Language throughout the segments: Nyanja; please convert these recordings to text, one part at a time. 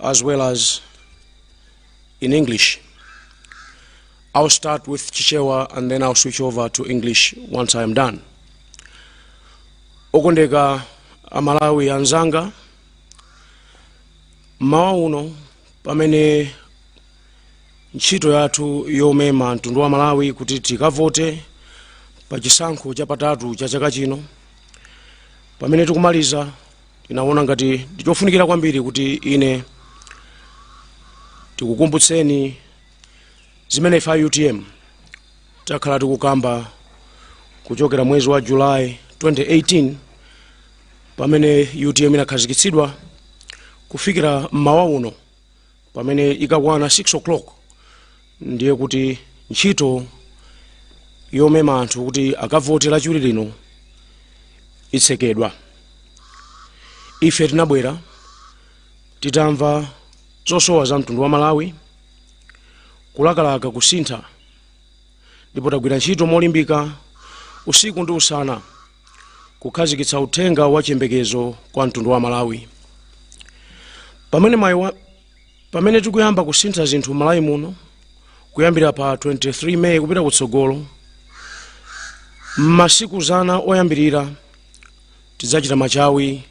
as well as in English. I'll start with Chichewa and then I'll switch over to English once I am done. Okondeka amalawi anzanga mmawa uno pamene ntchito yathu yomema mtundu wa malawi kuti tikavote pa chisankho chapatatu cha chaka chino pamene tikumaliza tinaona ngati ndi chofunika kwambiri kuti ine tikukumbutseni zimene ife a utm takhala tikukamba kuchokera mwezi wa julayi 2018 pamene utm inakhazikitsidwa kufikira mmawa uno pamene ikakwana 6 o'clock ndiye kuti ntchito yomema anthu kuti akavote lachiwiri lino itsekedwa ife tinabwera titamva zosowa za mtundu wa malawi kulakalaka kusintha ndipo tagwira ntchito molimbika usiku ndi usana kukhazikitsa uthenga wa chiyembekezo kwa mtundu wa malawi pamene ma pamene tikuyamba kusintha zinthu malawi muno kuyambira pa 23 meyi kupita kutsogolo m'masiku zana oyambirira tidzachita machawi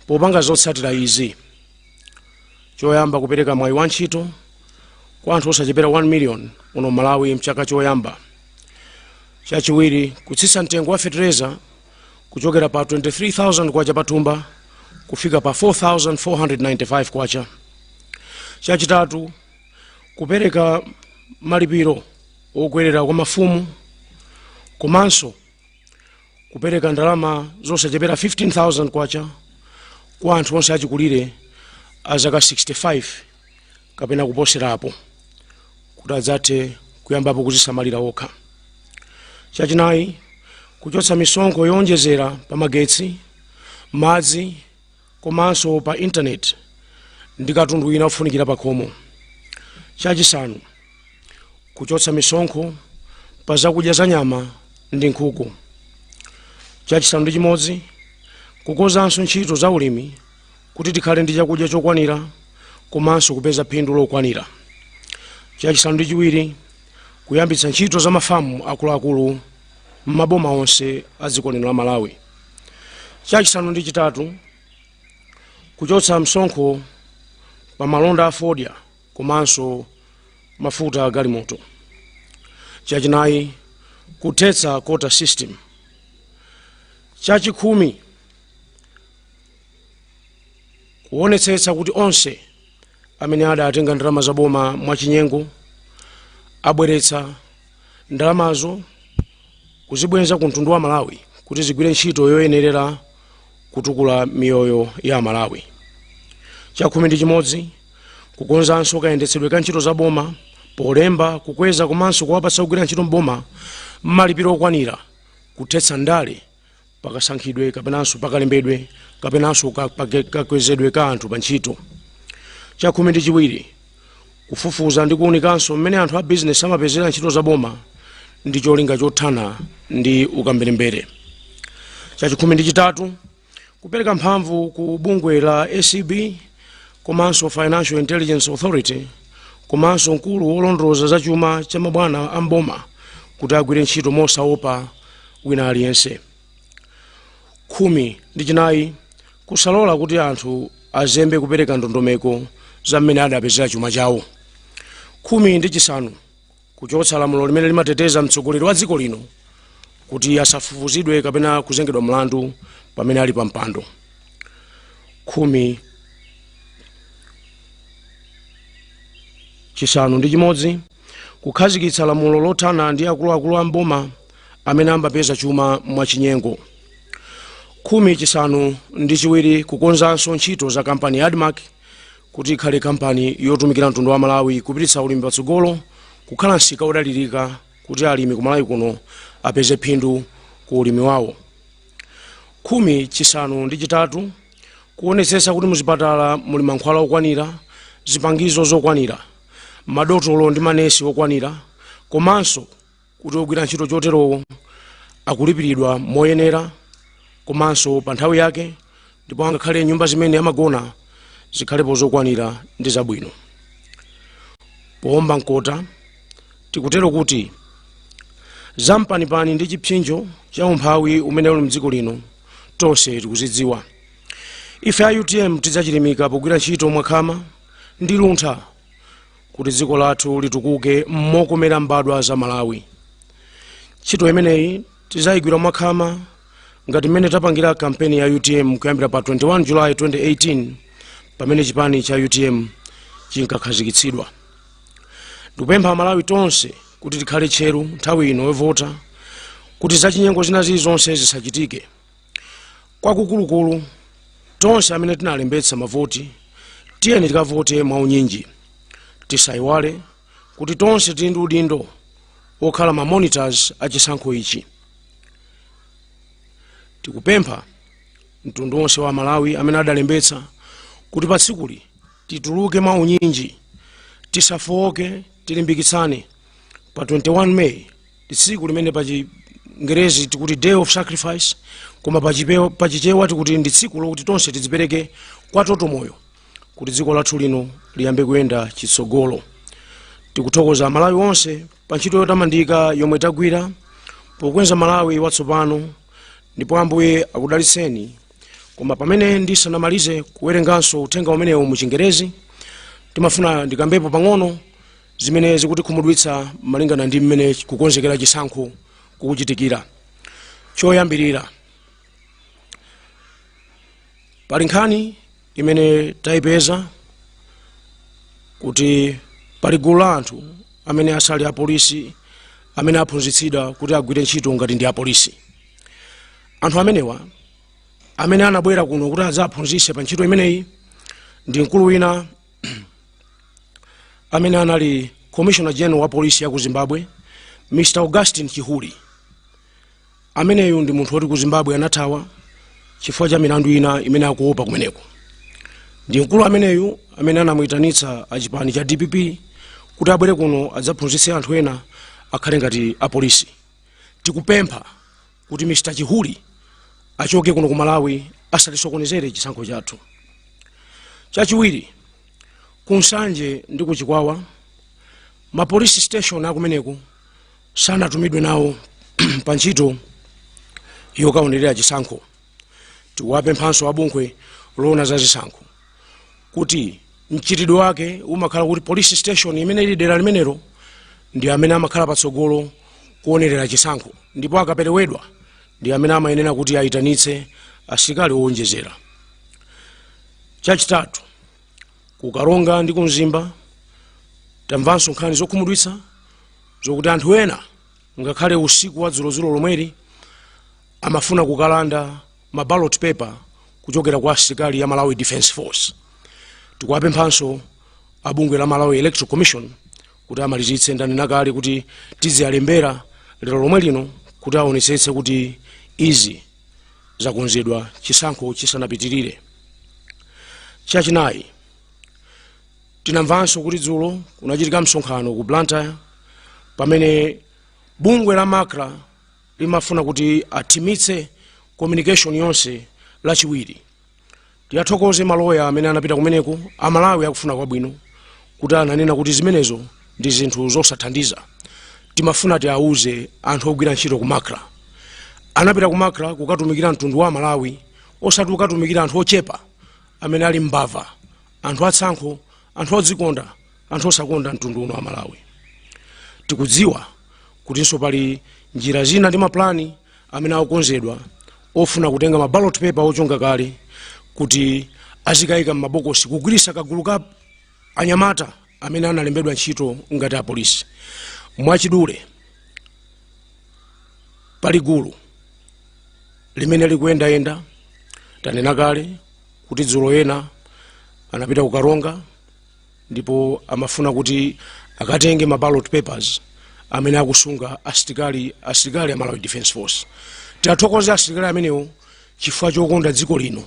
popanga zotsatira izi choyamba kupereka mwayi wa ntchito kwa anthu osachepera 1 million muno malawi mchaka choyamba chachiwiri kutsitsa mtengo wa fetereza kuchokera pa 23000 kwacha pathumba kufika pa 4495 kwacha chachitatu kupereka malipiro okwerera kwa mafumu komanso kupereka ndalama zosachepera 15000 kwacha kwa anthu onse achikulire a zaka 65 kapena kuposerapo kuti adzathe kuyambapo kudzisamalira okha chachinayi kuchotsa misonkho yowonjezera pa magetsi madzi komanso pa intaneti ndi katundu wina ofunikira pakhomo. Chachisanu, kuchotsa misonkho pa zakudya za nyama ndi nkhuku. Chachisanu ndi chimodzi, kukonzanso ntchito za ulimi kuti tikhale ndi chakudya chokwanira komanso kupeza phindu lokwanira. Chachisanu ndi chiwiri, kuyambitsa ntchito za mafamu akuluakulu m'maboma onse a dziko lino la Malawi. chachisanu ndi chitatu kuchotsa msonkho pa malonda a fodya komanso mafuta a galimoto chachinayi kuthetsa quota system chachikhumi kuonetsetsa kuti onse amene adatenga ndalama za boma mwachinyengo abweretsa ndalamazo kuzibwenza ku mtundu wa malawi kuti zigwire ntchito yoyenerera kutukula miyoyo ya amalawi chakhumi ndi chimodzi kukonzanso kayendetsedwe ka ntchito za boma polemba kukweza komanso kuwapatsa ogwira ntchito mboma malipiro okwanira kuthetsa ndale pakasankhidwe kapenanso pakalembedwe kapenanso kakwezedwe ka anthu pa ntchito chakhumi ndi chiwiri kufufuza ndi kuunikanso mmene anthu a bizinesi amapezera ntchito za boma ndi cholinga chothana ndi ukamberembere chachikhumi ndi chitatu kupereka mphamvu ku bungwe la acb komanso financial intelligence authority komanso mkulu wolondoloza za chuma cha mabwana a mboma kuti agwire ntchito mosaopa wina aliyense khumi ndi chinayi kusalola kuti anthu azembe kupereka ndondomeko za mmene adapezera chuma chawo khumi ndi chisanu kuchotsa lamulo limene limateteza mtsogoleri wa dziko lino kuti asafufuzidwe kapena kuzengedwa mlandu pamene ali pa mpando khumi chisanu ndi chimodzi kukhazikitsa lamulo lothana ndi akuluakulu a mboma amene ambapeza chuma mwachinyengo khumi chisanu ndi chiwiri kukonzanso ntchito za kampani ya admarc kuti ikhale kampani yotumikira mtundu wa malawi kupititsa ulimi patsogolo kukhala msika wodalirika kuti alimi ku malawi kuno apeze phindu ku ulimi wawo khumi chisanu ndi chitatu kuonetsetsa kuti muzipatala muli mankhwala okwanira zipangizo zokwanira madotolo ndi manesi okwanira komanso kuti ogwira ntchito choterowo akulipiridwa moyenera komanso pa nthawi yake ndipo angakhale nyumba zimene amagona zikhalepo zokwanira ndi zabwino poomba mkota tikutero kuti zampanipani ndi chipsinjo cha umphawi umene uli mdziko lino tonse tikuzidziwa ife a utm tidzachilimika pogwira ntchito mwakhama ndi luntha kuti dziko lathu litukuke mokomera mbadwa za malawi ntchito imeneyi tidzayigwira mwakhama ngati mmene tapangira kampeni ya utm kuyambira pa 21 july 2018 pamene chipani cha utm chinkakhazikitsidwa ndikupempha amalawi tonse kuti tikhale tcheru nthawi ino yovota kuti zachinyengo zina zilizonse zisachitike kwakukulukulu tonse amene tinalembetsa mavoti tiyeni tikavote mwaunyinji tisayiwale kuti tonse tili ndi udindo wokhala ma monitors a chisankho ichi tikupempha mtundu wonse wa amalawi amene adalembetsa kuti pa tsikuli tituluke mwa unyinji tisafowoke tilimbikitsane pa 21 may ndi tsiku limene pa chingerezi tikuti day of sacrifice koma pa chipewa- pa chichewa tikuti ndi tsiku lokuti tonse tidzipereke kwa toto moyo kuti dziko lathu lino liyambe kuyenda chitsogolo tikuthokoza amalawi onse pa ntchito yotamandika yomwe tagwira pokonza malawi watsopano ndipo ambuye akudalitseni koma pamene ndisanamalize kuwerenganso uthenga umenewu mu chingerezi ndimafuna ndikambepo pang'ono zimene zikutikhumudwitsa malingana ndi mmene kukonzekera chisankho kukuchitikira choyambirira pali nkhani imene tayipeza kuti pali gulu la anthu amene asali apolisi amene aphunzitsidwa kuti agwire ntchito ngati ndi apolisi anthu amenewa amene anabwera kuno kuti adzaphunzitse pa ntchito imeneyi ndi mkulu wina amene anali commissioner general wa polisi ya ku zimbabwe mr augustine chihuri ameneyu ndi munthu woti ku zimbabwe anathawa chifukwa cha milandu ina imene akuopa kumeneko ndi mkulu ameneyu amene anamuyitanitsa achipani cha dpp kuti abwere kuno adzaphunzitse anthu ena akhale ngati apolisi tikupempha kuti Mr. Chihuri achoke kuno ku Malawi asatisokonezere chisankho chathu. Chachiwiri, ku Nsanje ndi ku Chikwawa ma police station akumeneko sanatumidwe nawo pa ntchito yokaonerera chisankho. Tikuwapemphanso abungwe loona za zisankho kuti mchitidwe wake umakhala kuti police station imene ili dera limenelo ndi amene amakhala patsogolo kuonerera chisankho ndipo akaperewedwa ndi amene amayenera kuti ayitanitse asilikali owonjezera chachitatu ku karonga ndi ku mzimba tamvanso nkhani zokhumudwitsa zokuti anthu ena ngakhale usiku wa dzulodzulo lomweli amafuna kukalanda ma ballot paper kuchokera kwa asilikali a malawi defence force tikuwapemphanso a bungwe la malawi electoral commission kuti amalizitse ndanena kale kuti tiziyalembera lero lomwe lino kuti aonetsetse kuti izi zakonzedwa chisankho chisanapitirire chachinayi tinamvanso kuti dzulo kunachitika msonkhano ku blantyre pamene bungwe la macra limafuna kuti athimitse communication yonse lachiwiri tiyathokoze maloya amene anapita kumeneko amalawi akufuna kwabwino kuti ananena kuti zimenezo ndi zinthu zosathandiza timafuna tiauze anthu ogwira ntchito ku macra anapita ku macra kukatumikira mtundu wa amalawi osati kukatumikira anthu ochepa amene ali mbava anthu atsankho anthu odzikonda anthu osakonda mtundu uno wa malawi tikudziwa kutinso pali njira zina ndi mapulani amene akukonzedwa ofuna kutenga ma ballot paper ochonga kale kuti azikayika m'mabokosi kugwiritsa kagulu ka anyamata amene analembedwa ntchito ngati apolisi mwachidule pali gulu limene likuyendayenda tanena kale kuti dzulo ena anapita ku Karonga ndipo amafuna kuti akatenge ma ballot papers amene akusunga asilikali asilikali a Malawi Defence Force tiathokoze asilikali amenewo chifukwa chokonda dziko lino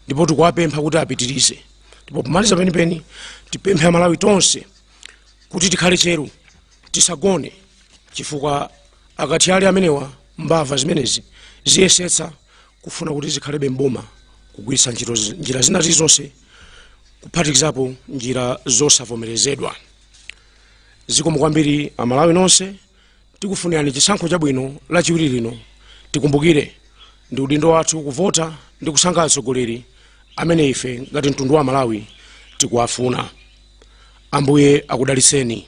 ndipo tikuwapempha kuti apitirize ndipo pomaliza penipeni tipemphe amalawi tonse kuti tikhale tcheru tisagone chifukwa akathyali amenewa mbava zimenezi ziyesetsa kufuna kuti zikhalebe m'boma kugwiritsa ntchito zi- njira zina zilizonse kuphatikizapo njira zosavomerezedwa zikomo kwambiri amalawi nonse tikufunirani chisankho chabwino lachiwiri lino tikumbukire ndi udindo wathu kuvota ndi kusankha atsogoleri amene ife ngati mtundu wa malawi tikuwafuna ambuye akudalitseni